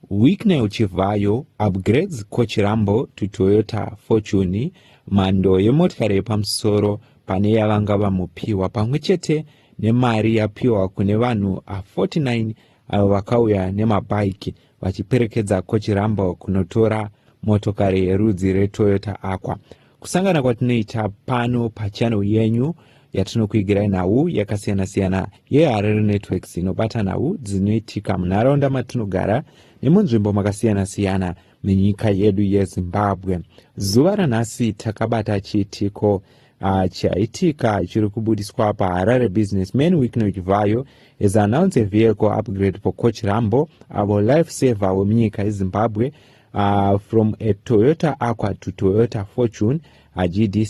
Wicknell Chivhayo upgrades Kochirambo to Toyota Fortune mhando yemotikari yepamusoro pane yavanga vamupiwa pamwe chete nemari yapiwa kune vanhu 49 avo vakauya nemabhaiki vachiperekedza Kochirambo kunotora motokari yerudzi reToyota Aqua. kusangana kwatinoita pano pachannel yenyu yatinokuigirai nhau yakasiyana-siyana yeharare networks inobata nhau dzinoitika munharaunda matinogara nemunzvimbo makasiyana-siyana menyika yedu yezimbabwe zuva ranhasi takabata chiitiko uh, chaitika chiri kubudiswa paharare business man wiknoch vayo is announce a vehicle upgrade for coach rambo avo life saver wemunyika yezimbabwe uh, from a toyota aqua to toyota fortune a gd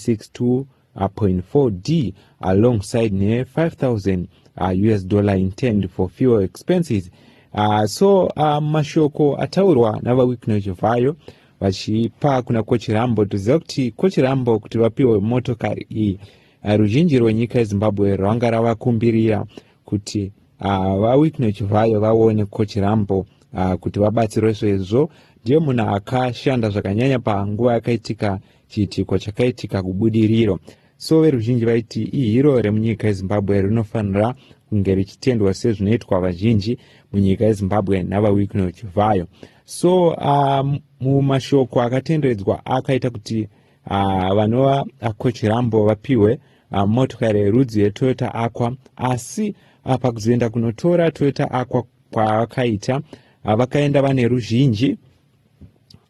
62.4 d alongside ne-5000 uh, us dollar intend for fuel expenses uh, so uh, mashoko ataurwa navawicknow chivhayo vachipa kuna kochirambo toziva kuti kochirambo kuti vapiwe motokari iyi uh, ruzhinji rwenyika yezimbabwe rwanga ravakumbirira kuti uh, vawitne chivhayo vaone coach rambo uh, kuti vabatsirwe sezvo ndiye munhu akashanda zvakanyanya panguva yakaitika chiitiko chakaitika kubudiriro so veruzhinji vaiti ihiro remunyika yezimbabwe rinofanira kunge richitendwa sezvinoitwa vazhinji munyika yezimbabwe navawikno chivhayo so uh, mumashoko akatenderedzwa akaita kuti uh, vanova uh, kochirambo vapiwe uh, motokari yerudzi yetoyota aqua asi uh, pakuzoenda kunotora toyota aqua kwavakaita uh, vakaenda vane ruzhinji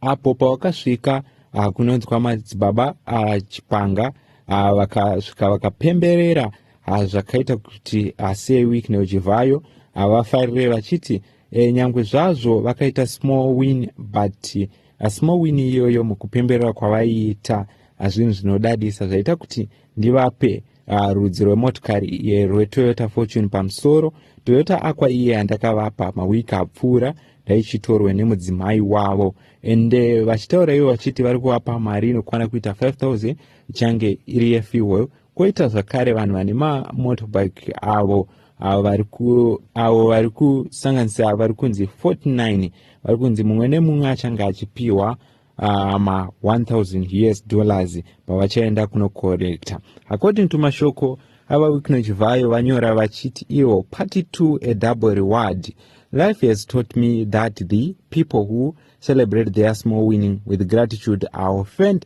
apo pavakasvika uh, kunonzwa madzibaba uh, chipanga uh, vakasvika vakapemberera uh, zvakaita kuti uh, sei week neuchivayo havafarire vachiti e, nyangwe zvazvo vakaita small win but asi mawini iyoyo mukupemberera kwavaiita hazvinhu zvinodadisa zvaita kuti ndivape uh, rudzi rwemotokari rwetoyota fortune pamusoro toyota akwa iye yandakavapa mawiki apfuura ndaichitorwe nemudzimai wavo ende eh, vachitaura ivo vachiti vari kuvapa mari inokwana kuita 5000 ichange iri yefuel Koita zvakare vanhu vane mamotorbike avo avo vari kusanganisira vari kunzi 49 vari kunzi mumwe nemumwe achange achipiwa uh, ma 1000 us dollars pavachaenda kunokorekta according to mashoko ava wikno chivhayo vanyora vachiti ivo party to a double reward life has taught me that the people who celebrate their small winning with gratitude are offend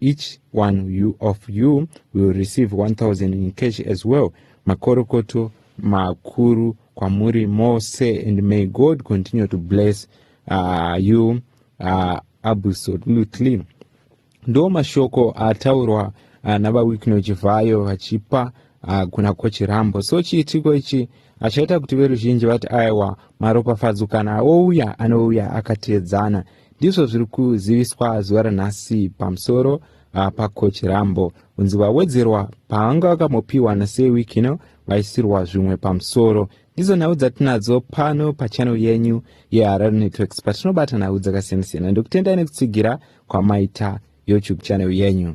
each one you of you will receive 1000 in cash as well makorokoto makuru kwamuri mose and may god continue to bless uh, you uh, absolutely ndo mashoko ataurwa uh, navawikno chivhayo vachipa uh, kuna kochirambo so chiitiko ichi achaita kuti veruzhinji vati aiwa maropafadzo kana ouya anouya akateedzana ndizvo zviri kuziviswa zuva ranhasi pamusoro uh, pacoach rambo unzi vawedzerwa paanga vakamopiwa nasei wiki ino vaisirwa zvimwe pamusoro ndizo nhau dzatinadzo pano pachannel yenyu yeharare networks patinobata nhau dzakasiyana-siyana ndokutendai nekutsigira kwamaita youtube channel yenyu